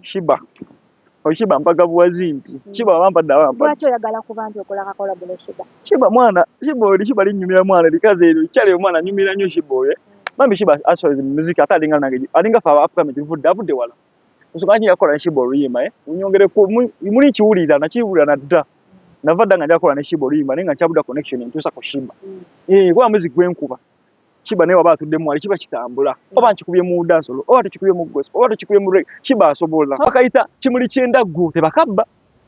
Shiba Oshiba mpaka buwazi nti mm. Shiba wampa da wampa Lwaki oyagala kuba nti okola ka collab ne Shiba Shiba mwana Shiba oli Shiba linyumira mwana likaze elyo chale mwana nyumira nyo Shiba oye Mami Shiba aswazi muziki ata alinga nange alinga fa afuka miti vude avude wala Nsukana kini yakola ne Shiba oluyima eh Unyongere ku muli kiwulira na kiwulira na da Navada nga njakola ne Shiba oluyima Nenga nchabuda connection ntusa ku Shiba mm. Eh kwa muziki gwenkuba kiba naye waba atudde mwali kiba kitambula mm. oba nkikubye mu dansolo oba tukikubye mu gospel oba tukikubye mu reggae kiba asobola bakayita kimuli ky'endaggu tebakabba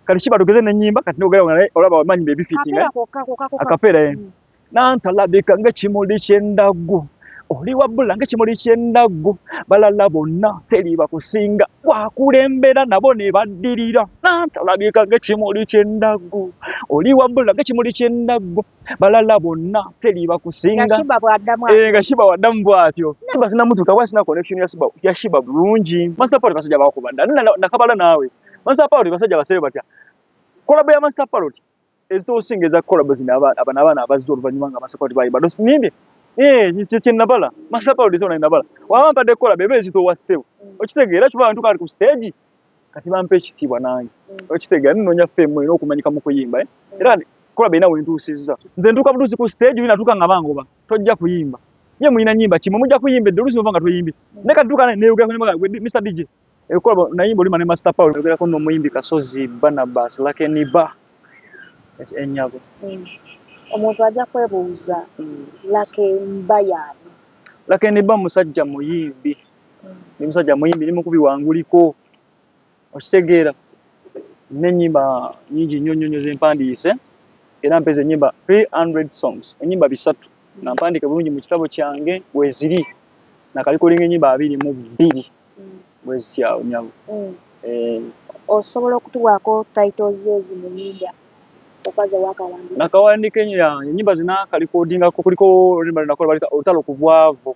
kati kiba tugeze n'ennyimba kati nogera nga naye olaba wamanyi be bifitinga akapeera ye mm. nantalabika ng'ekimuli ky'endaggu oli wabbula ng'ekimuli ky'endaggu balala bonna teri bakusinga wakulembera nabo ne baddirira nantalabika ng'ekimuli ky'endaggu oli wabbula ng'ekimuli ky'endaggu balala bonna teliiba kusinga nga shiba eh, waddamu bwatyo shiba sinamutuuka kuba sina connection ya shiba bulungi master party basajja bakuba dda nakabala naawe master party basajja basebe batya kolabo ya master party ezitosinga eza kolabo zino abana abaana abazze oluvannyuma nga master party bayiba dosinimbye Eh, nyisto kye nabala. Masapa ulizona nabala. Wawampa de kola bebe zito waseu. Mm. Okisege era kiba bantu kali ku stage. kati bampa ekitiibwa nange mm. okitegeera ninoonya fame olina okumanyika mu kuyimba eh? mm. era kola beina wentuusizza nze ntuuka butuusi ku stage oli natuuka nga bangoba tojja kuyimba ye mulina nyimba kimwe mujja kuyimba edde olusi nga toyimbi mm. ne katuuka neyogerako ne bagala mr dj ekola eh, nayimba olima ne master paul yogerako n'omuyimbi kasozi banabas lakeniba enyago omuntu ajja kwebuuza lakeniba yaani lakeniba musajja muyimbi ni musajja muyimbi ni mukubi wanguliko okitegeera nina enyimba nyingi nnyo nnyo nnyo zempandiise era mpeza enyimba 300 songs enyimba bisatu nga mpandiike bulungi mu kitabo kyange weziri nakalikolinga enyimba abiri mu bbiri bwezityawo nyabo mm. eh. osobola okutuwaako titles ezi mu nyimba nakawandika enyimba zinakalikodingako kuliko nakola balika olutalo ku bwavu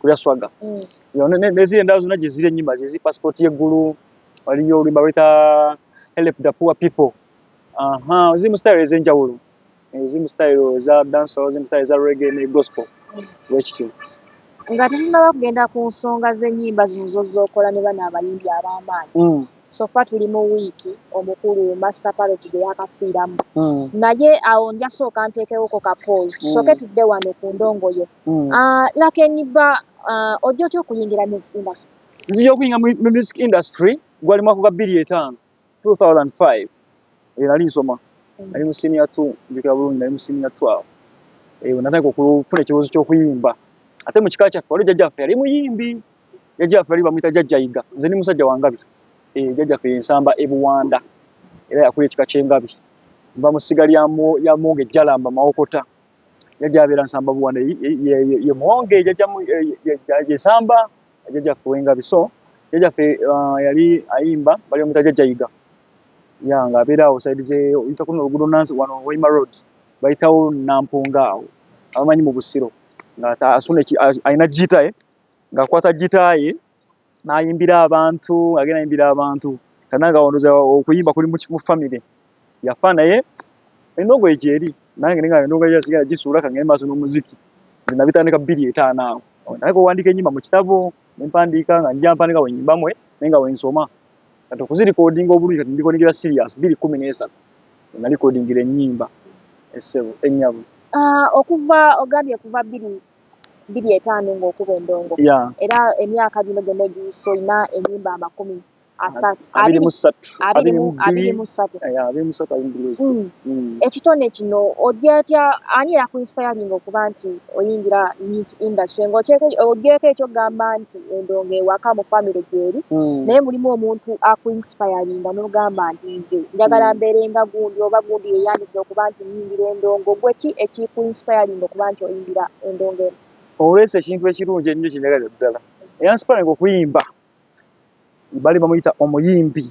kulya swaga mm. neziri endala zona gyeziri enyima zezi passport yeggulu waliyo olimba weta help the poor people aha ziri mu style ezenjawulo eh, ziri mu style eza danso ziri mu style eza rege ne gospel mm. wekityo nga tetunaba kugenda ku nsonga z'enyimba zino zozokola ne bano abayimbi ab'amaanyi mm. so far tuli mu wiiki omukulu Master Parrot gwe yaakafiiramu naye awo nja sooka nteekewoko ka pause tusooke tudde wano ku ndongo yo. Laken Bba ojja otya okuyingira music industry? Nzija okuyingira mu music industry gwali mwaka gwa bbiri etaano, two thousand and five, eyo nali nsoma nali mu senior two njjukira bulungi nali mu senior two awo eyo natandika okufuna ekirowoozo ky'okuyimba ate mu kika kyaffe waliwo jjajja waffe yali muyimbi. jajja waffe ali bamuyita jajja yiga nze ni musajja wa ngabi e, jajja ffe yensamba e buwanda era yakula ekika kyengabi nva mu ssiga lya monge jalamba mawokota jajja abeera nsamba buwanda ye monge jajjayesamba jajja ffe wengabi so jajja ffe uh, yali ayimba bali bamuyita jajja yiga ya nga abeera awo saidi ze oyita kuno olugudo nansi wano waima road bayitawo nampunga awo abamanyi mu busiro nga asuna alina jitae eh? ng'akwata gitaaye n'ayimbira abantu agenda ayimbira abantu kana nga wandooza okuyimba kuli mu famire yafa naye enogo egyo eri nange ninga enogo egyo sigala gisuula ka ng'eri maaso n'omuziki nze nabitandika bbiri etaano awo naye kuwandiika ennyimba mu kitabo ne mpandiika nga njja mpandika bwe nyimba mwe naye nga bwe nsoma kati okuzirikodinga obulungi kati ndikodingira sirias bbiri kkumi n'esatu nalikodingira ennyimba essebo ennyabo ah, okuva ogambye kuva bbiri biri etaano nga okuba endongo yeah. era emyaka gino gyonna egiyisa olina enyumba amakumi ekitone kino odyotya ani eyakuinspiringa okuba nti oyingira news industry nga ogyeko ekyokugamba nti endongo ewaka mu famiry gyeri hmm. naye mulimu omuntu akuinspiringa nogamba nti nze njagala hmm. mberenga gundi oba gundi yeyandidde okuba nti okuyimbira endongo gwe ki ekiku inspiring okuba nti oyimbira endongo eno olwesa ekintu ekirungi ennyo kyenyagalira ddala eyansiparinga okuyimba bali bamuyita omuyimbi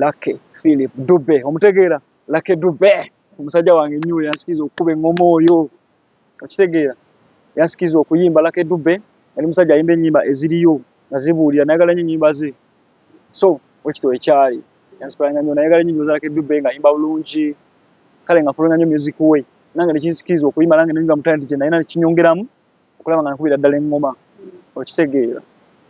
lake philip dube omutegeera lake dube omusajja wange ennyo yansikiriza okukuba engoma oyo okitegeera yansikiza okuyimba lake dube yali musajja ayimba enyimba eziriyo nga zibuulira nayagala nyo enyimba ze so wekito ekyali yansikulanga nyo nayagala nyo enyimba za lake dube nga ayimba bulungi kale nga fulonga nyo music we nange nekinsikiza okuyimba nange nenyimba mu talenti gyenayina nekinyongeramu okulaba nga nkubira ddala engoma okitegeera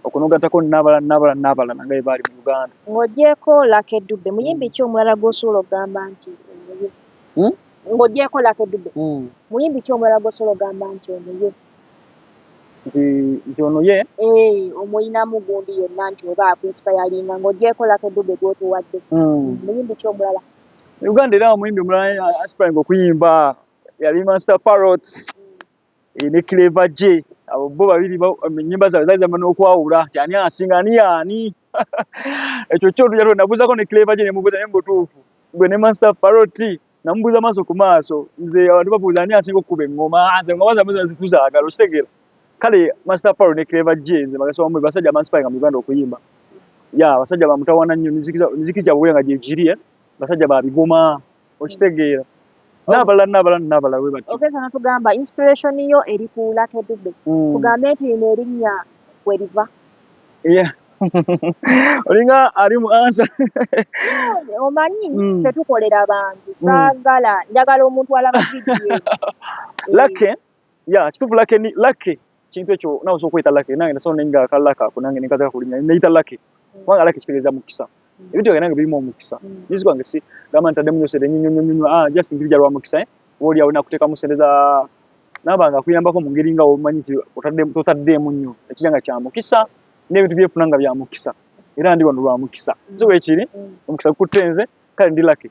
okunogatako nabala nabala nabala nange bebaali mu uganda ng'ogyeko lake dube muyimbi ki omulala gwosobola okugamba nti omuye hmm? ng'ogyeko Lucky Dube mm. muyimbi ki omulala gwosobola ogamba nti ono ye nti ono ye eh, omuyinamu gundi yonna nti oba akuinsipayalinga ng'ogyeko Lucky Dube gwotuwadde mm. muyimbi ki omulala uganda era omuyimbi omulala aspiringa okuyimba yali master parrot mm. eh, ne cleva je abo bo babiri enyimba zaabwe zaali zamba n'okwawula nti ani asinga ani yaani ekyo kyo tuja nabuuzako ne cleva je nemubuuza naye mubutuufu gwe ne master paroti namubuuza maaso ku maaso nze abantu babuuza ani asinga okukuba eŋŋoma ah, nze eŋŋoma zamwe zazikuzaagala okitegeera kale master parot ne cleva je nze bagasoma mu basajja amansipainga mu uganda okuyimba ya basajja bamutawana nnyo miziki gyabwe nga gyegiri eh? basajja babigoma okitegeera n'abalala n'abalala n'abalala bwe batyo okeza natugamba inspiration yo eri ku Lucky Dube hmm. tugambe nti lino erinnya we liva olinga ali mu ansa omanyi hmm. tetukolera bantu saagala njagala omuntu alaba vidiyo lake ya kitufu lake ni lake kintu ekyo nawe soko ita lake nange nasono ninga kala ka kunange ninga kala kulinya ne ita lake mm. wanga lake kiteleza mukisa mm. ebintu yange bilimu mukisa mm. nizi kwange si gama ntade munyo sede nyinyo nyinyo nyinyo ah just ngirija lwa mukisa eh woli awona kuteka musendeza nabanga kuyamba ko mungeri nga omanyi ti otade otade munyo ekijanga kya mukisa ne bintu bye funanga bya mukisa era ndi wano lwa mukisa mm. ziwe ekiri mm. mukisa kutenze kale ndi lake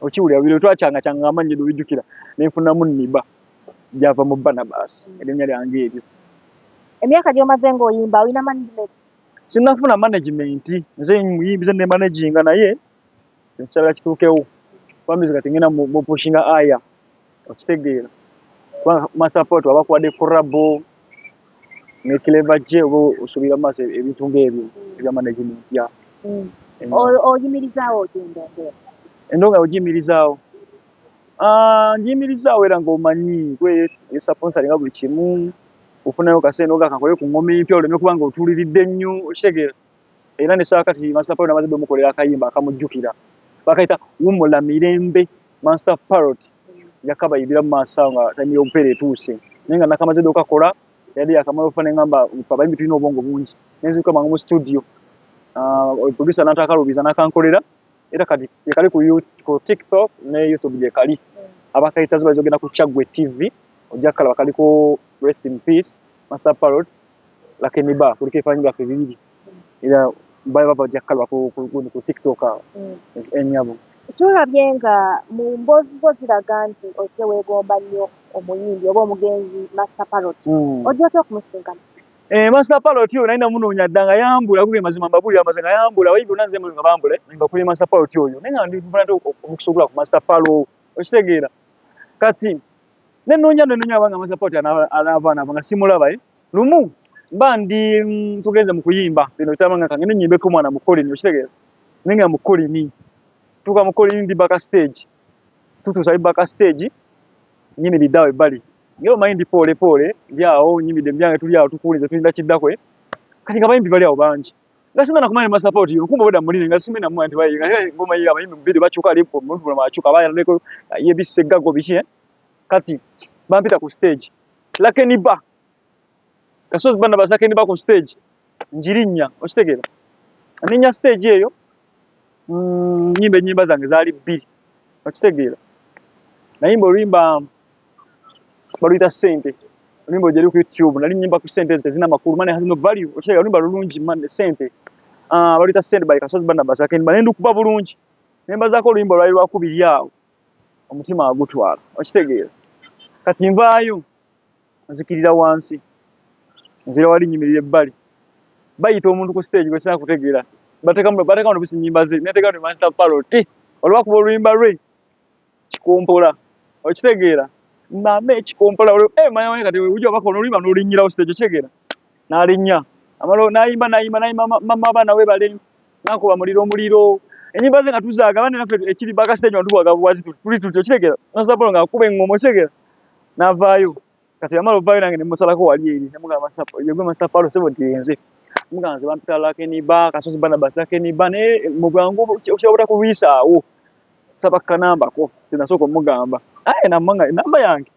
okiwulira bino twakyanga kyanga nga amannya dobijjukira ne nfunamu niba gyava mu barnabas erinnya lyange eryo emyaka gyomaze ng'oyimba olina management sinafuna management nze muyimbi ze nemanaginga naye ekisala kituukewo bamizi kati ngenda mupushinga aya okitegeera kubanga master pot abakuwadde kurabo ne clever je oba osuubira maaso e-, ebintu ng'ebyo ebya management ya mm. oyimirizaawo otya endongo endongo ogiyimirizaawo ah, ngiyimirizaawo era ng'omanyi gwe esaponsalinga nga buli kimu ofunayo kasente ogakakole ku ngoma empya oleme kubanga otuuliridde nnyo okitegeera era ne saa kati Master Parrot namaze bemukolera akayimba akamujjukira bakayita wumula mirembe Master Parrot yakabayibira mu maaso nga time y'obupeera etuuse naye nga nakamaze dde okakola yali yakamala okufa nengamba abayimbi tulina obwongo bungi nenziruka mangu mu studio ah, producer nantakalubiza nakankolera era kati yekali ku tiktok ne youtube gyekali abakayita ziba zogenda ku Chagwe TV ojja kala bakaliko rest in peace Master Parrot lakini ba kuliko ebifaananyi byaffe bibiri era bali bava ojja kukalaba ku tiktok awo mm. ennyabo eh, tulabye nga mu mboozi zo ziraga nti ozze weegomba nnyo omuyimbi oba omugenzi master parot mm. ojja otya okumusinkana eh, master parot oyo naye namunoonya dda nga yambula kuge mazima mbabuulira amaze nga yambula abayimbi bona nze nga bambule mbakuli master parot oyo naye nga ndifuna nti omukisa ogula ku master paro okitegeera kati ne nonya ne nonya abanga amaze pati anava anava nga simulaba eh lumu mba ndi mm, tugeze mu kuyimba bino bitama nga kange nenyimbe ko mwana mukoli ni okitegeera ninga mukoli ni tuka mukoli ni baka stage tutu sai baka stage nyini bidawe bali ngero mayindi pole pole yao nyimi de byange tuli awo tukulize tulinda kidakwe kati kabayimbi bali awo bangi Nasema na kumanya support yo kumbe boda mulini nga simina mu anti bayi nga ngoma yiga abayimbi mubiri bachuka lipo muntu bula bachuka baya ndeko ye bisega go bishi eh? kati bampita ku stage lakini ba kasozi bana bazake ni ba ku stage njirinya okitegera ninya stage eyo mm, nyimbe nyimba zange zali bbiri okitegera nayimba olimba baluyita sente oluyimba lujeri ku youtube nali nyimba ku sente ezo tezina makulu mane has no value okiraba oluyimba lulungi mane sente ah, baluyita sente by kasozi bana basake ne ndukuba bulungi ne mbazaako oluyimba lwali lwakubiri awo omutima agutwala okitegeera kati nvaayo nzikirira wansi nzira wali nyimirira ebbali bayita omuntu ku stage gwe sina kutegeera batekamu batekamu nobisi nyimba ze netekamu ne manzita paloti olwakuba oluyimba lwe kikompola okitegeera mama ekikompola eh, manya manya kati ujja bako nolima nolinyira usite ekyo kitegeera nalinya amalo nayimba nayimba nayimba mama abaana we bale nakuba muliro omuliro enyimba ze nga tuzaaga abandi naffe ekiri baka stage nga tubwaga bwazi tuli tuti okitegeera nasapola nga akuba engoma okitegeera navaayo kati yamala ovayo nange nemusalako wali eri nemugamba yegwe master palo sebo nti yenze mugamba nze bampita lakeniba kasozi banabas lakeniba naye mubwangu okyabuta kulwisaawo saba kanambako kyenasooka omugamba aye namanga enamba yange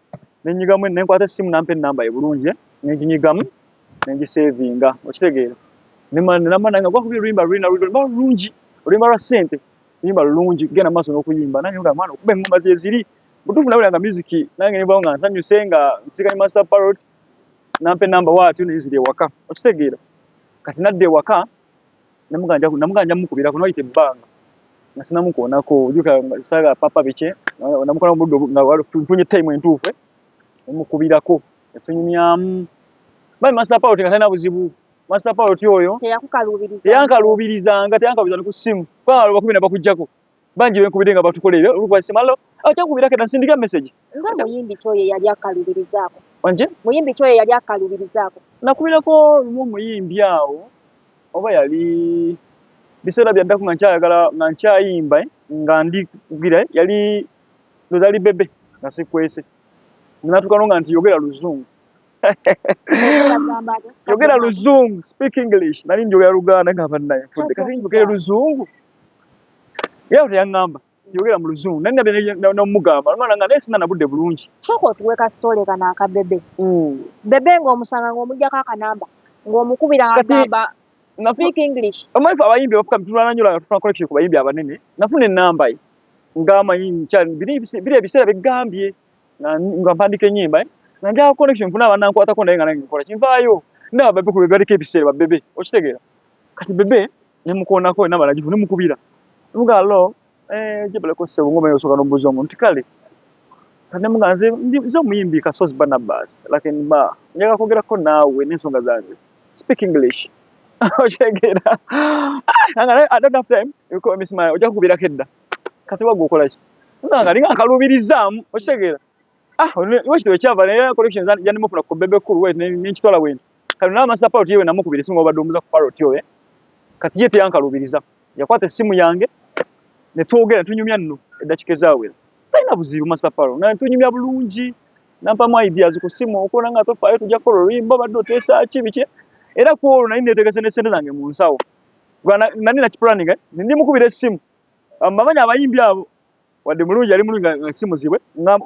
nenyigamu nenkwata essimu nampa enamba ye bulungi eh? nenginyigamu nengisevinga okitegeera nenamba nange gwakuba oluyimba lulina lulina lulungi oluyimba lwa ssente luyimba lulungi genda maaso nokuyimba nange mugamba mwana okuba engoma gyeziri mutuufu nawulira nga music nange nebawo nga nsanyuse nga nsigaye master parrot nampa enamba waatyo nenzira ewaka okitegeera kati nadda ewaka namuganja mukubirako noyita ebbanga nga sinamukoonako ojukasaga papa biki namukola mubuddo nga nfunye time entuufu eh? nemukubirako etunyumyamu mani master parrot nga talina buzibu master parrot oyo teyankaluubirizanga teyankaluubiza ne ku ssimu kubanga bakubina bakujjako bangi benkubidde nga batukola ebyo olukuba simalo akyankubirako edda nsindika message nga muyimbi kyoyo yali akalubirizaako wanje muyimbi kyoyo yali akalubirizaako nakubirako lumu omuyimbi awo oba yali biseera byaddako nga nkyayagala nga nkyayimba eh, nga ndi kugira eh, yali lozali bebe nga sikwese natukano nga nti yogera luzungu yogera luzungu speak english nali njogera luganda nga bannaye fudde kati njogere luzungu Yeye teyangamba tiyogera mu luzungu naye nabye nomugamba omwana nga naye sina nabudde bulungi. Sooka otuwe ka story kano aka bebe. Mm. Bebe nga omusanga nga omujjako akanamba nga omukubira agamba speak English. Omanyi fe abayimbi abafuka bitulwana nnyo langa tufuna connection ku bayimbi abanene. Nafuna ennamba ye nga amanyi nkyali biri biri ebiseera bigambye nga mpandika ennyimba eh? nga njagala connection nfuna abanankwatako naye nga nange nkola kinvaayo ndaba bebe ku bebe baliko ebiseera ba bebe okitegeera kati bebe ne mukoonako ena balagivu ne mukubira ne mugaa lo eh, gyebaleko ssebo ng'omanyi osooka n'obuuza omuntu nti kale kati ne mugaa nze nze omuyimbi kasozi banabas lakini ba njagala kwogerako naawe n'ensonga zange speak english okitegeera ah, i don't have time you call me smile ojja kukubirako edda kati wagwe okola ki nga nga ninga nkaluubirizaamu okitegeera Ah, wakitibwa ekyava naye collection yandimu funa ku bebe kulu wet nenkitwala wena kati naye amasita paroti yewe namukubira esimu obadde omuza ku paroti oyo eh? kati ye teyankalubiriza yakwata esimu yange ne twogera tunyumya nno eddakiika ezawera talina buzibu masita paro nga tunyumya bulungi nampamu ideas ku simu okubona nga tofaayo tujja kukola oluyimba obadde oteesa ki biki era ku olwo nali netegese ne sente zange mu nsawo nali nakipulaninga eh? ndi mukubira esimu amamanyi abayimbi abo wadde mulungi yali mulungi nga si muzibe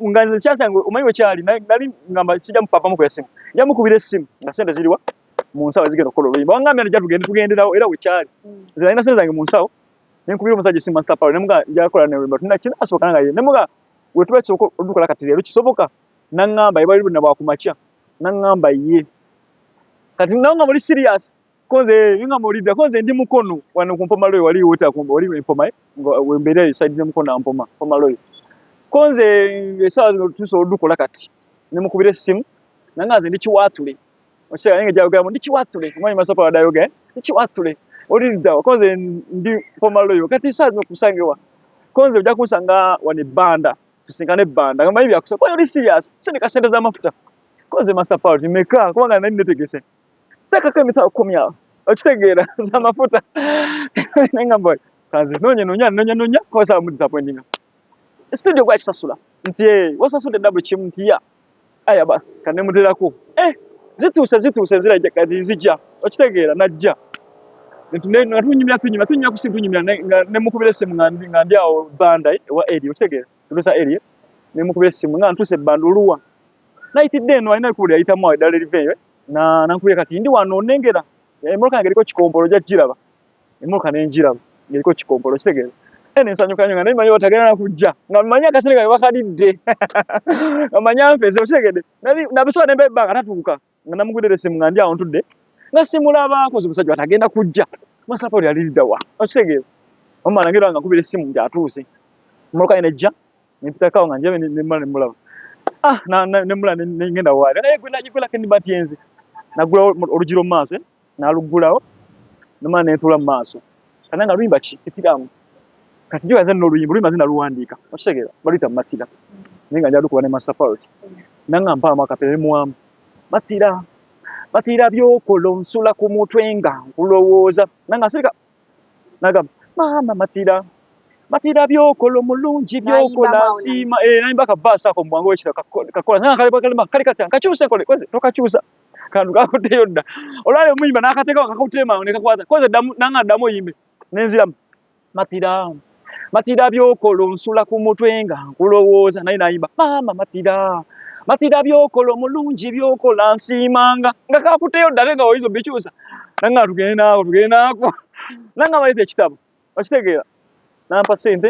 nga nze kyasanga omanyi wekyali nali ngamba sijja mupapamu ku yasimu nja mukubira essimu nga sente ziriwa mu nsawo ezigenda okukola oluyimba wangambye nti jatugende tugenderawo era wekyali nze nalina sente zange mu nsawo ne nkubira omusajja essimu master power ne muga njakola ne oluyimba tuna kinasoboka nanga ye ne muga wetuba kisoboka olukola kati leero kisoboka nangamba ebali luna bwakumakya nangamba ye kati nanga muli serious Koze inga molida koze ndi mukono wano kumpoma loyo wali wota kumba wali mpoma eh? ngo wembere yo side mukono ampoma mpoma loyo. Koze esawa zino tuso dukola kati. Ne mukubire simu nanga nze ndi kiwatule. Okisa inga jawo gamu ndi kiwatule. Mwanyi masapa wadayo ge. Eh? Ndi kiwatule. Oli ndawo koze ndi mpoma loyo kati esawa zino kusangewa. Koze uja kusanga wani banda. Tusingane banda. Ngamba hivi akusa kwa yori serious. Sende kasende za mafuta. Koze master power nimeka kwa ngana nini netegese. tekako emitwalo kumi awo okitegeera zamafuta nengamba oli kanze nonya nonya nonya nonya kosa mu disappointing studio gwa kisasula nti eh wasasude dabu kimu nti ya aya bas kane mudirako eh zituuse zituuse zira kati zijja okitegeera najja nga tunyumya tunyumya tunyumya kusi tunyumya ne mukubira esimu nga ndi nga ndi awo banda eh, wa eri okitegeera tusa eri ne mukubira esimu nga ntuse banda oluwa naitidde eno alina kubuli ayitamu awo eddala eriveeyo eh. na nankubira kati ndi wano onengera emmotoka yange eriko kikompolo ojja kukiraba emmotoka ne ngiraba ng'eriko kikompolo kitegeera ene nsanyuka nyo nga naye manyi batagenda na kujja nga manyi akasente kange bakalidde nga manyi anfeze okitegedde nabisooka ne mbebba nga tatuuka nga namugudere simu nga ndi awo ntudde nga simulabaako zi musajja batagenda kujja masapa oli aliriddawa okitegeera omala ngira nga nkubira essimu nti atuuse emmotoka ye nejja nempitakawo nga njabe nemula nemulaba ah, nemula nengenda waabe naye gwelako endiba nti yenze nagulawo olugiro mu maaso eh, naluggulawo nemala nentuula mu maaso kana nga luyimba ki etiramu kati jo yaze noluyimba luyimba zina luwandiika okitegeera baluyita matira naye nga njalukuba ne master parity nanga mpaamu akapere nemuwamu matira matira byokola nsula ku mutwe nga nkulowooza nanga sirika nagamba maama matira matira byokola omulungi byokola nsiima eh, nayimba ka baasi ako mubwangu wekira kakola naye akalibakalima kali katya nkakyuse nkole koze tokakyusa kantu kakutteyo dda olwali omuyimba nakateekawo kakutteyo mangu nekakwata koze nanga ddamu oyimbe nenziramu matira matira byokola onsula ku mutwe nga nkulowooza naye nayimba maama matira matira byokola omulungi byokola nsiimanga nga kakuteyo ddale nga oyinza obikyusa nanga tugende naako tugende naako nanga maleta ekitabo okitegeera nampa sente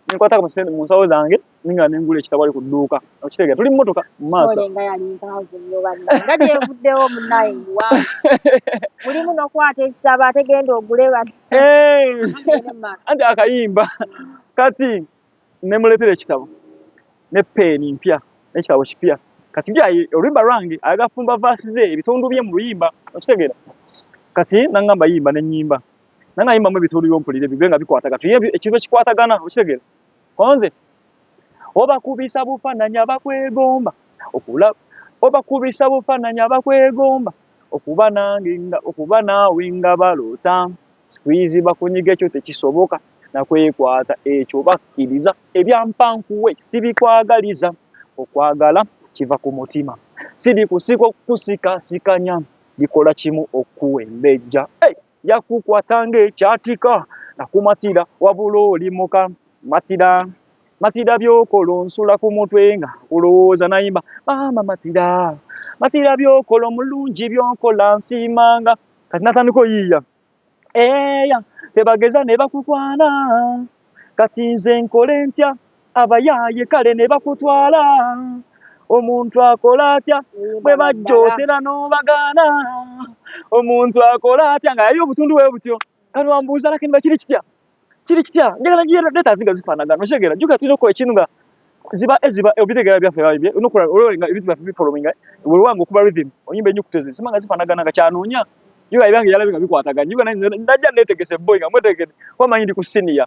nenkwatako sente mu nsawo zange ninga nengula ekitabali ku dduuka okitegeera tuli mmotoka mu maaso nga yali mpaavu nnyo banna nga gyevuddewo munnaye muwa mulimu nokwata ekitabo ate genda ogule bano anti akayimba kati nemuleetera ekitabo ne peeni mpya nekitabo kipya kati byayi oluyimba lwange ayaga fumba vaasi ze ebitundu bye mu luyimba okitegeera kati nangamba yimba nenyimba nangayimbamu ebitundu byompulire bibye nga bikwatagana tuye ekintu ekikwatagana okitegeera konze obakubisa bufananya bakwegomba okula obakubisa bufananya bakwegomba okuba nange nga okuba naawe nga baloota squeeze bakunyige ekyo tekisoboka nakwekwata ekyo bakkiriza ebyampankuwe sibikwagaliza okwagala kiva ku mutima siri kusika okukusikasikanya bikola kimu okuwembejja hey! yakukwata ng'ekyatika nakumatira wabula oli muka matira matira byokola onsula ku mutwe nga olowooza nayimba maama matira matira byokola omulungi byokola nsiimanga kati natandika oyiiya eya tebageza ne bakukwana kati nze nkole ntya abayaaye kale ne bakutwala omuntu akola atya bwe bajja otera n'obagaana omuntu akola atya nga yayo obutundu bwe butyo kano wambuuza lakini bakiri kitya kiri kitya njagala ngiye leta zinga zifaanagana okitegera juga tulina okukola ekintu nga ziba eziba eh, obitegera eh, byaffe babye nokola ololenga ebintu byaffe bifolominga wewanga okuba rhythm onyimba enyo kutezi sima nga zifaanagana nga kyanoonya juga ebyange yalabe nga bikwatagana juga najja netegese boy nga mwetegede kuba manyi ndi ku siniya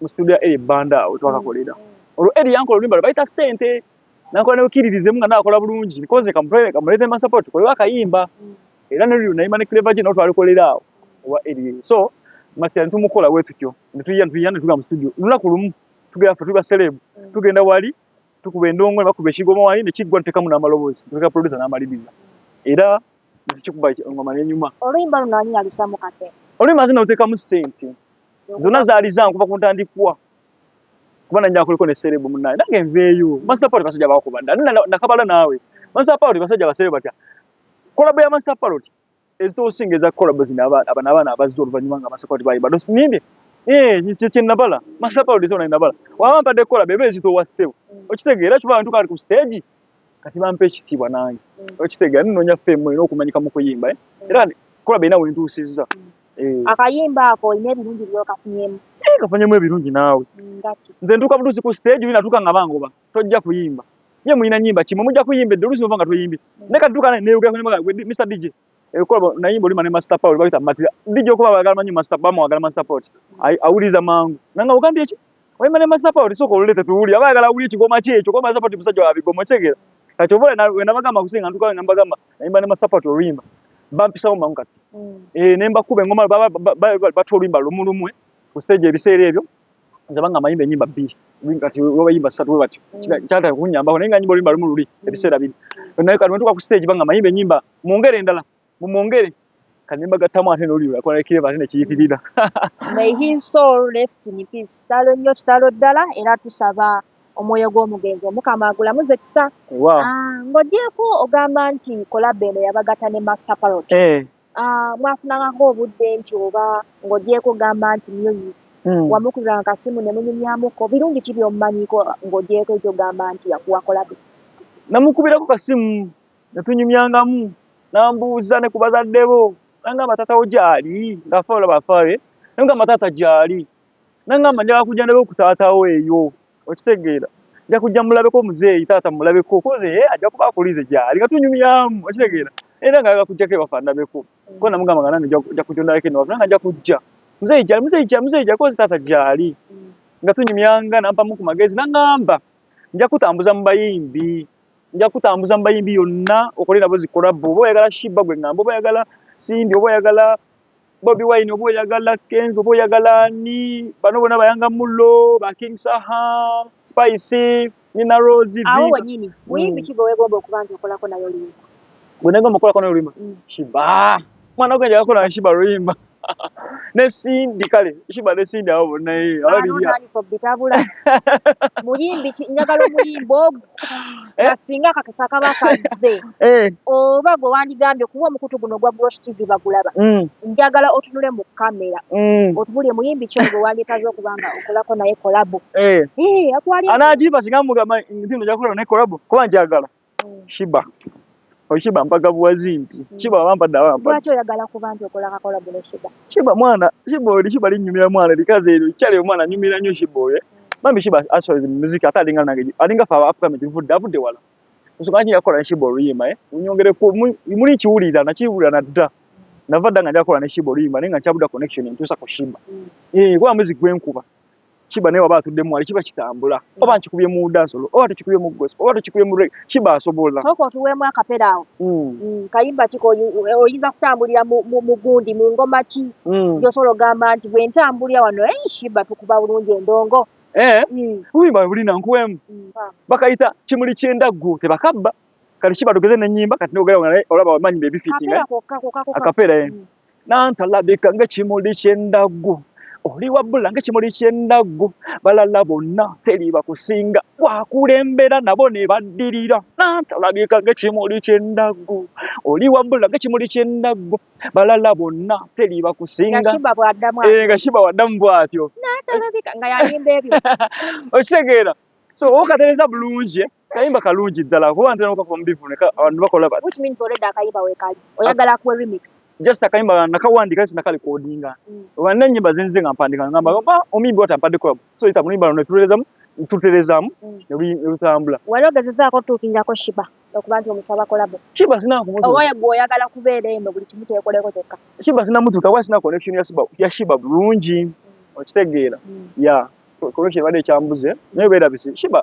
mu situdiyo ya Eli Banda we twakakolera olwo Eli yankola oluyimba lwe bayita ssente nakola ne bukiririzemu nga nakola bulungi nkoze kamuleete ma support tukolewo akayimba era ne luli nayimba ne Clever Jane twalikolera awo owa Eli so makira ne tumukola bwe tutyo ne tuyiya ne tuyiya ne tuga mu situdiyo olunaku lumu tugenda ffe tuli baselebu mm. tugenda wali tukuba endongo ne bakuba ekigoma wali ne kiggwa tutekamu n'amaloboozi ne tuka producer n'amaliriza era ne tukikuba engoma n'enyuma oluyimba luno ani yalusamu kate oluyimba nze naluteekamu ssente zonna zaali zange kuva ku ntandikwa kuba nanya akoliko ne serebu munaye nange nveeyo master party basajja bakuba dda nakabala naawe master party basajja basebe batya kolabo ya master party ezitosinga eza kolabo zino abana abaana abazza oluvannyuma nga master party bayimba dosinyimbe eh, ekyo kyenabala master party zona nabala waba mpadde kolabo eba ezitowa ssebo okitegeera kiba bantu kali ku stage kati bampa ekitiibwa nange mm. okitegeera ninoonya fame olina okumanyika mu kuyimba eh? mm. era kulaba erina wentuusizza mm. eh. akayimba ako olina ebirungi byokafunyemu eh, kafunyemu ebirungi naawe nze ntuuka butuusi ku stage oli natuuka nga bangoba tojja kuyimba ye mulina nyimba kimwe mujja kuyimba edde oluusi nova nga toyimbye naye kati tuuka neyogera mr dj Ebikolwa eh, naye mbolima ne master power bagita matira. Ndije okuba bagala manyi master power bagala master power. Ai awuliza mangu. Nanga ugambi echi. Wai mane master power isoko lulete tuuli. Abagala awuli echi goma checho. Kwa master power musajja wa bigoma chegera. Kacho vole na wena bagamba kusinga nduka wena bagamba. Naye mane master power tulimba. Bampi sawo mangu kati. Mm. Eh nemba kube ngoma baba baba batu limba lumulumwe. Ku stage ebisere ebyo. Nzabanga mayimbe nyimba bishi. Kati wewe yimba satu wewe bati. Mm. Chata kunyamba. Nenga nyimbo limba lumululi. Mm. Ebisera bini. Naye kati mtuka ku stage banga mayimbe nyimba. mwongere endala mumwongere kanyimba gattamu ate noliyulakonekireva ate nekiyitirira kitalo nnyo kitalo ddala era tusaba omwoyo gw'omugenzi omukama agulamuze kisa ah, ng'ogyeko ogamba nti kolaba eno yabagata ne master parot eh. ah, mwafunangako obudde nti oba ng'ogyeko ogamba nti music hmm. wamukulira akasimu ne munyumyamuko birungi ki byomumanyiko ng'ogyeko ekyogamba nti yakuwa kolabe namukubirako kasimu ne tunyumyangamu n'ambuuza ne ku bazadde bo n'angamba taata wo gyali ng'afa olaba afa be n'amugamba taata gyali n'angamba njagala kujja ndabe ku taata wo eyo okitegeera nja kujja mulabeko muzeeyi taata mulabeko koze ye ajja kuba akulize gyali nga tunyumyamu okitegeera era ngaaga kujjako ewafa ndabeko kuba namugamba nga nange nja kujja ondabeko eno wafa nanga nja kujja muzeeyi gyali muzeeyi gyali muzeeyi gyali koze taata gyali nga tunyumyanga nampamu ku magezi n'angamba nja kutambuza mu bayimbi nja kutambuza mu bayimbi yonna okole nabo zi collab oba oyagala shiba gwe ngamba oba oyagala simbi oba oyagala bobi wine oba oyagala kenz oba oyagala ani bano bona bayanga mullo ba king saha spicy nina rose awo wenyini muyimbi mm. kigo wegomba okuba nti okolako nayo luyimba gwe negomba okolako nayo luyimba mm. shiba mwana gwe njagala kola nshiba luyimba ne sindi kale nshiba ne sindi awo bonna ye abaliyabitabula muyimbi njagala omuyimba ogwo eh? nga singa kakisa kaba kazze eh. oba gwe wandigambye kuba omukutu guno ogwa brosh tv bagulaba mm. njagala otunule mu kamera mm. otubulye muyimbi kyo gwe wandikaze okuba nga okolako naye kolabo eh. anagimba singa mugamba nti nojakola naye kolabo kuba njagala Shiba Oshiba mpaka buwazi nti mm. Shiba wampa da wampa. Lwaki oyagala kuba nti okola kakola bule Shiba. Shiba mwana, Shiba oli Shiba linyumira mwana likaze eri chali omwana nyumira nyo Shiba oye. Mami mm. Shiba aso is music ata alinga nange. Alinga fa Africa miti vuda vude wala. Nso kanyi yakola ne Shiba oli yema eh. Unyongere ku muli chiwuli da na chiwuli na da. Mm. Navada nganja kola ne Shiba oli yema nenga chabuda connection ntusa ko Shiba. Mm. Eh kwa music gwenkuba. kiba naye waba atudde mwali kiba kitambula mm. oba nkikubye mu dansolo oba tukikubye mu gospel oba tukikubye mu reggae kiba asobola sooka otuweemu akapera awo mm. mm, kayimba kiko oyinza kutambulira mu gundi mu ngoma ki gyosobola ogamba nti bwe ntambulira wano ei shiba tukuba bulungi endongo eh? obuyimba bwe bulina nkuweemu bakayita kimuli ky'endaggu tebakabba kati kiba tugeze n'ennyimba kati nogera olaba wamanyi bebifitinga akapeera eh? nantalabika ng'ekimuli ky'endaggu oli wabbula ng'ekimuli ky'endaggu balala bonna teri bakusinga wakulembera nabo ne baddirira nantalabika ng'ekimuli ky'endaggu oli wabbula ng'ekimuli ky'endaggu balala bonna teri bakusinga nga shiba bw'addamu eh, bw'atyo nga yalimba ebyo okitegeera so okatereza bulungi eh? Kayimba kalungi ddala kuba ntera okakoma mu bivune abantu bakola bati. Which means already akayimba weekali oyagala akuwe remix. Just akayimba nakawandika si nakali kodinga. Mm. Oba n'ennyimba zinze nga mpandika ngamba oba omuyimbi wata mpadde kolabo so yita muyimba luno tuterezamu tuterezamu mm. ne lutambula. Wali ogezezaako otuukirako Shiba okuba nti omusaba kolabo. Shiba sina kumutuuka. Oba gwe oyagala kubeera eno buli kimu kyekoleko kyokka. Shiba sina mutuuka kuba sina connection ya Shiba ya Shiba bulungi mm. okitegeera. Ya. Kolokye bade kyambuze naye beera bisi Shiba.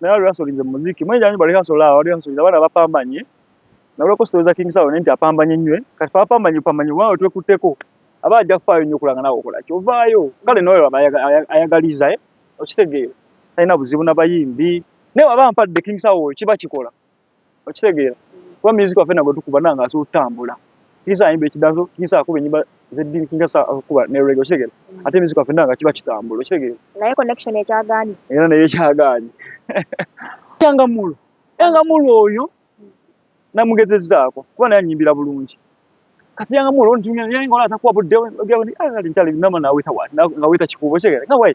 naye wali wasolinze mu muziki mwenye janyi bali haso la wali haso abana bapambanye na wali kositoza king sawo nenti apambanye nywe kati pa apambanye pambanye wao twe kuteko aba aja kufayo nyo kulanga nawo kola kyo vayo kale noyo baba ayagaliza eh okitegeyo tayina buzibu na bayimbi ne waba mpadde king sawo kiba kikola okitegeera kuba music waffe nagwe tukuba nanga asobola okutambula kisa ayimba ekidanso kisa akuba enyimba zeddini kisa akuba ne rege okitegeera mm. ate music waffe nanga kiba kitambula okitegeera naye connection ekyagaanyi era naye ekyagaanyi yangamulu yangamulu oyo namugezezaako kuba naye anyimbira bulungi kati yanga mulo nti yanga ola atakuwa budde yanga nti ntali nama na weta wa nga weta kikubo chege nga wai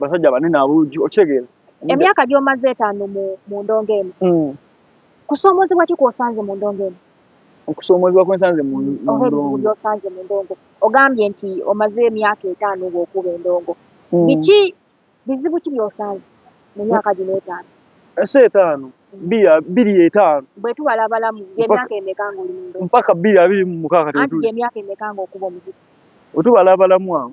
basajja banene abuuju okitegeera emyaka gyomaze etaano mu ndongo eno hmm. kusoomoozebwa ki kwosanze mu ndongo eno okusoomoozebwa kwensanze mu ndongo gyosanze mu ndongo ogambye nti omaze emyaka etaano ngaokuba endongo hmm. biki bizibu ki byosanze mu myaka gino etaano ensi etaano biri etaano bwetubala abalamu emyaka emeka ngaoli mu ndongo mpaka biri abiri mu mukaaga emyaka emeka ngaokuba omuziki wetubala abalamu awo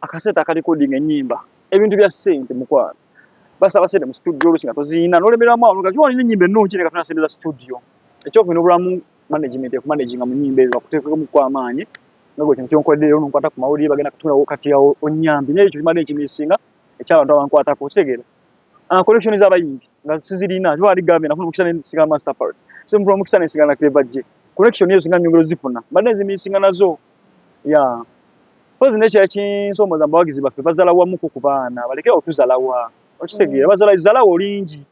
akasente aka recording enyimba ebintu bya sente mukwano basaba sente mu studio olusi nga toziyina nolemeramu awo nga kiwalina enyimba ennungi nga tuna sente za studio ekyokubina obulamu management ekumanaginga mu nyimba ezo bakuteekemu ku amaanyi nga gwe kino kyonkoledde leero nonkwata ku mawulire bagenda kutundawo kati awo onyambi naye ekyo kimadde ekimisinga ekyabantu abankwatako okitegeera ah, collection z'abayimbi nga sizirina kiba ali gambye nafuna omukisa nensiga master part simfuna omukisa nensiga na clever je collection ezo singa nyongero zifuna mbadde nzimisinga nazo ya mpozi nekyo yakinsomoza mbawagizi baffe bazala wamu ku kubaana baleke otuzalawa okitegeera bazala zalawa olingi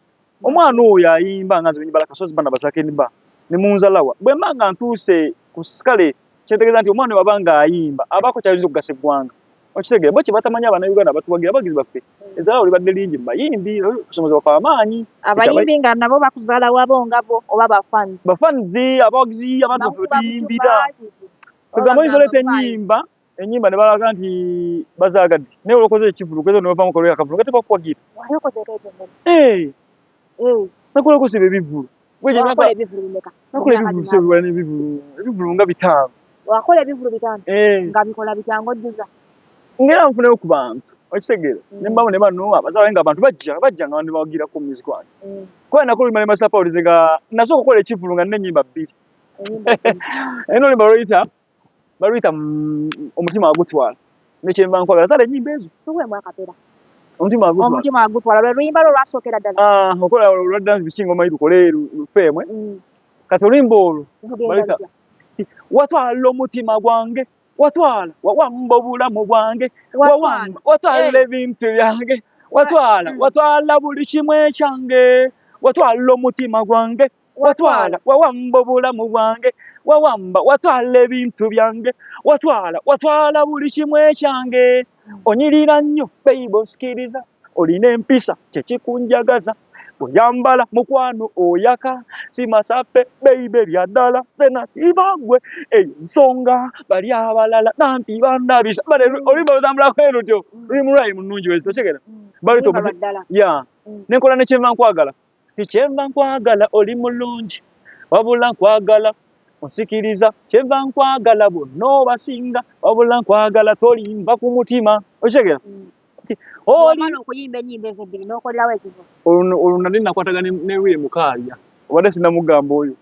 omwana oyo ayimba nga nzibenyi bala kasozi bana basakenba ne munzalawa bwe manga ntuuse ku skale kyentegeza nti omwana wabanga ayimba abako kyayinza okugasa eggwanga okitegere bo kyebatamanyi abanauganda batuwagira abagizi baffe mm. ezala olibadde lingi mubayimbi obusomozi bafe amaanyi abayimbi nga nabo bakuzala wabo ngabo oba bafans bafans abawagizi abantu baffe batuyimbira kwegamba oyinza oleeta enyimba enyimba ne balaga nti bazagadde naye olokoze ekivulu kwezo ne bavamu kolwera kavulu nga tebakuwagira nakulokosa ebivulu wakola ebivulu bimeka wakola ebivulu ebivulu nga bitaano wakola ebivulu bitaano eh. nga bikola bitango jjuza ngera nfune ku bantu okitegere mm. ne mbamu ne bano abazawe nga abantu bajja bajja nga bandi bagira ku music wange mm. kwa na kulu mali masapa ulize nga naso kukola ekivulu nga ne nyimba bbiri eno ni baroita baluyita mm, omutima agutwala nekyemba nkwagala zala enyimba ezo tuwemu akapera omutima agutwala omutima agutwala lwe luyimba lwo lwasookera ddala ah, okola olwadda biki ngoma yi lukole lufeemwe mm. kati oluyimba olwo baluyita watwala omutima gwange watwala wawamba obulamu bwange wawamba watwala eh. ebintu byange watwala mm. watwala buli kimu ekyange watwala omutima gwange watwala wawamba obulamu bwange wawamba watwala ebintu byange watwala watwala buli kimu ekyange onyirira nnyo beibo sikiriza olina empisa kyekikunjagaza oyambala mukwano oyaka simasape beibe byaddala zenasibagwe eyo nsonga bali abalala nampi bandabisa bale olimba otambulako erutyo lulimu lwayi munungi wezitetegera bali tomuya nenkola nekyenva nkwagala tikyenva nkwagala oli mulungi wabula nkwagala onsikiriza kyenva nkwagala bonna obasinga wabula nkwagala tolimba ku mutima okitegera mm. olwo nali nakwataga ne wire mukaalya obadde sinamugamba oyo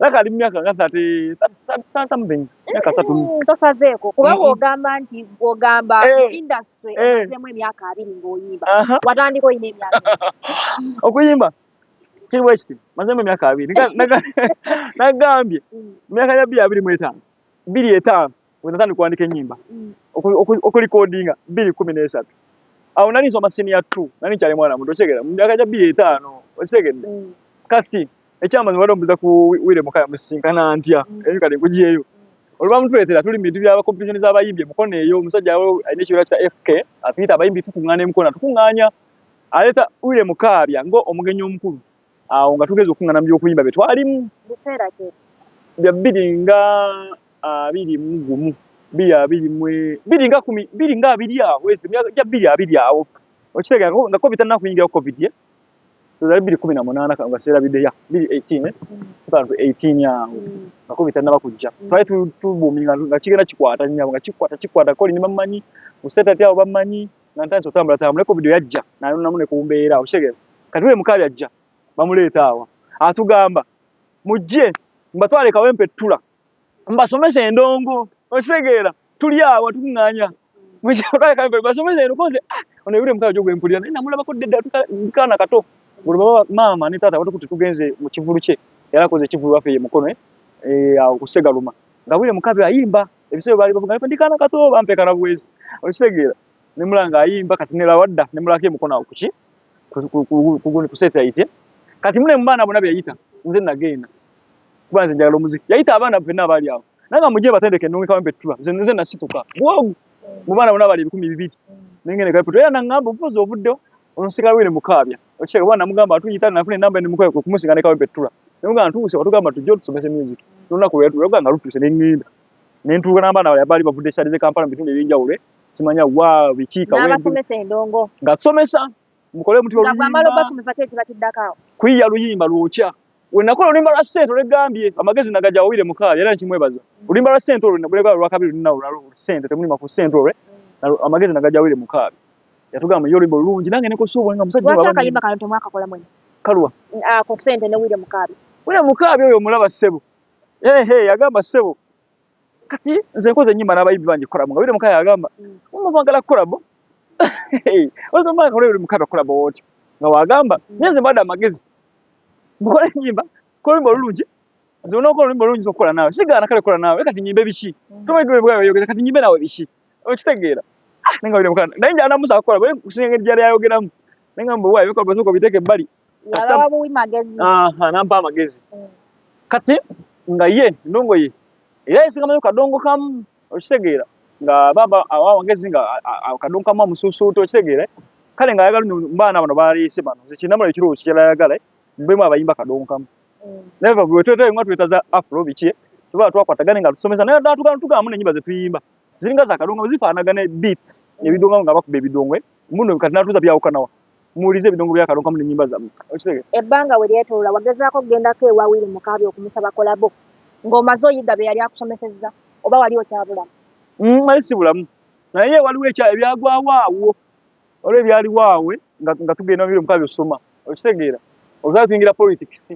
Naye kali mu myaka nga 30 something myaka satu. Mm, tosazeeko kuba mm-hmm. bw'ogamba nti bw'ogamba eh. industry eh. omazeemu emyaka abiri ng'oyimba watandika olina emyaka okuyimba kiri bwe kiti mazeemu emyaka abiri nagambye mm. mu myaka gya bbiri abiri mu etaano bbiri etaano wenatandika kuwandika enyimba mm. okulikodinga biri kumi nesatu awo nali nsoma siniya t nali nkyali mwana muto okitegera mu myaka gya biri etaano okitegedde mm. kati ekyamazi wali ombuza ku wire mukaya musisinkana ntya mm. eyo kati nkujeeyo olwamutuletera tuli mubintu bya competition z'abayimbi emukono eyo omusajja alina ekibiina kya fk atuyita abayimbi tukuŋŋaana emukono tukuŋŋaanya aleeta wire mukaabya nga omugenyi omukulu awo nga tugeza okungana mubyokuyimba byetwalimu biseera ki bya bbiri nga abiri mu gumu bbiri abiri mwe bbiri nga kumi bbiri nga abiri awo ezo emyaka gya bbiri abiri awo okitegera nga covid tanna kuyingira covid ye tuzali bbiri kumi na munaana kano nga seerabidde ya bbiri eighteen eh? mm. eighteen awo mm. nga covid tannaba kujja mm. twali tubuumi nga kigenda kikwata nyabo nga kikwata kikwata koli ne bammanyi museetati awo bammanyi nantandise otambula tambuleko video yajja nayonamu ne kumbeera okitegeera kati buli mukabi ajja bamuleeta awa atugamba mujje mbatwale kawempe ttula mbasomesa endongo okitegeera tuli awa tunganya basomesa eno koze ah, ono ebire mukabi jo gwempulira naye namulabako ddedda tukaana kato olwo baba maama ne taata batukuti tugenze mu kivulu kye yarakoze ekivulu wafe ye mukono eh, eh, awo kusegaluma nga bwire mukabi ayimba ebisebo bali bavuga ndi kana kato bampe kana bwezi okitegeera ne mulanga ayimba kati ne lawadda ne mulaka emukono akuki kuguni kuseta ite kati mune mbaana bona byayita nze nagenda kubanze njagala omuziki yayita abaana bena abali awo nanga muje batendeke nungi kawempe tula nze nze nasituka bwogu mu baana bona abali ebikumi bibiri nengene kapeto era nangamba obufuzi obuddo onsika wene mukaabya Okisha bwana mugamba atuyita na fune namba ni mukoye ku kumusinga ne kawe betula. Nunga ntuse watugamba tujjo tusomese music. Nuna ku yatu yaganga lutuse ne nginda. Ne ntuka namba na yabali bavude shari ze Kampala bitunde binja ule. Simanya wa bichika wewe. Na basomese endongo. Nga somesa mukole mtu wa. Nga bamalo basomesa tete batidaka. Kuiya luyimba luocha. Wenakola olimba lwa sente olegambye amagezi nagaja wawire mukaya era nkimwebaza. Olimba lwa sente olwe nabule lwa kabiri nina olwa sente temuli maku sente olwe amagezi nagaja wawire mukaya. Yatugamba yo olimba olungi nange ne kosobo nga musajja wabwe. Wacha kalimba kano temwaka kola mwene. Kalwa. Ah ko sente ne wire mukaya. Wire mukaya oyo mulaba sebo. Eh hey, eh yagamba sebo. kati nze nkoze nyimba n'abayimbi bangi kolabo nga bire mukaya agamba mama mm. bagala kolabo ozo maka kolero mukaba kolabo wote nga wagamba mm. nyenze mbadde amagezi mukole nyimba kola oluyimba olulungi nze onokola oluyimba olulungi zokukola naawe sigaana kale kola naawe kati nyimbe biki mm. tomaigwebwayogeza kati nyimbe naawe biki okitegeera ah, naye nga bire mukana naye njana musa akola bwe kusinga engeri gyali ayogeramu naye nga mbu waayo bikolwa zoka obiteeka ebbali walaba buwi magezi aha nampa amagezi mm. kati nga ye ndongo ye era yesinga manyo kadongo kamu okitegeera nga baba awa magezi nga kadongo kamu amusuusuuta okitegeera kale nga ayagala mbaana bano baleese bano nze kinamula ekirowoozo kirala ayagala mbemu abayimba kadongo kamu mm. naye bwetwetee nga twetaza afro biki tuba twakwatagane nga tusomesa naye ddala tugana tugamu nenyimba zetuyimba ziringa za kadongo zifaanagana beats mm. ebidongo nga bakuba ebidongo eh? muno kati natuuza byawukanawa muwulize ebidongo bya kalongo mu nyimba zamu okitege ebanga we lyetola wagezako genda ke wa wili mukabi okumusaba kolabo ngo mazo yiga be yali akusomeseza oba wali okyabula mm mali sibulamu naye waliwo ekya ebyagwa waawo olwe byali waawe nga nga tugenda mu biro mukabi osoma okitegeera ozala tuingira politics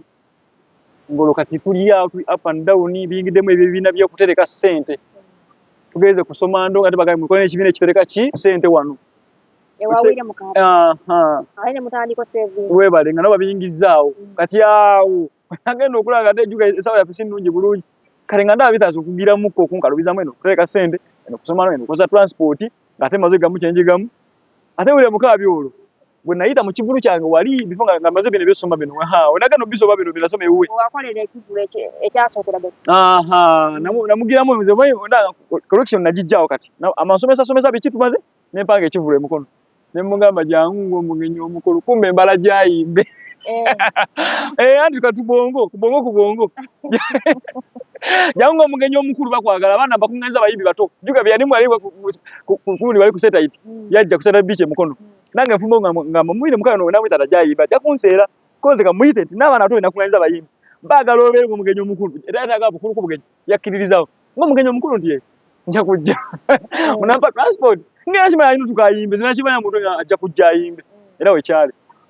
ngolo kati tuli ya tuli up and down bingidemu ebyo bina byo kutereka sente tugeze kusoma ndo nga tebagaye mukone ekibine kitereka ki sente wano webale nga nobabiyingizaawo mm. kati awo agenda okulaba nga tejuka esawa yaffe sinungi bulungi kale nga ndaba bitaza okugiramukko okunkalubizamu eno okutereka sente eno kusomano eno okoza transport nga ate maze gamu kyenjigamu ate wulira mukaabi olwo bwe nayita mu kivulu kyange wali bifo nga maze bino ebyosoma bino onagenda obisoba bino binasoma ewuwe namugiramu nze collection nagijjawo kati amasomesa somesa biki tumaze ne mpanga ekivulu emukono ne mugamba jangu ng'omugenyi omukulu kumbe embala gyayimbe eh. eh, anti kati bwongo ku bwongo ku bwongo jangu ng'omugenyi omukulu bakwagala abaana bakuŋŋanyiza abayimbi bato juga byeyani mwali kulundi bali ku setaiti mm. yajja kuseta biiki emukono mm. nange nfumbo nga mumuyire mukano namuyita tajayimba ajja kunseera koze kamuyite nti n'abaana bato benakuŋŋanyiza abayimbi baagala obeere ng'omugenyi omukulu era yataaga bukulu ku bugenyi yakkiririza nga omugenyi omukulu nti nja kujja oh. munampa transport ngera kimanya ayina otuka ayimbe zina kimanya muntu ajja kujja ayimbe era wekyali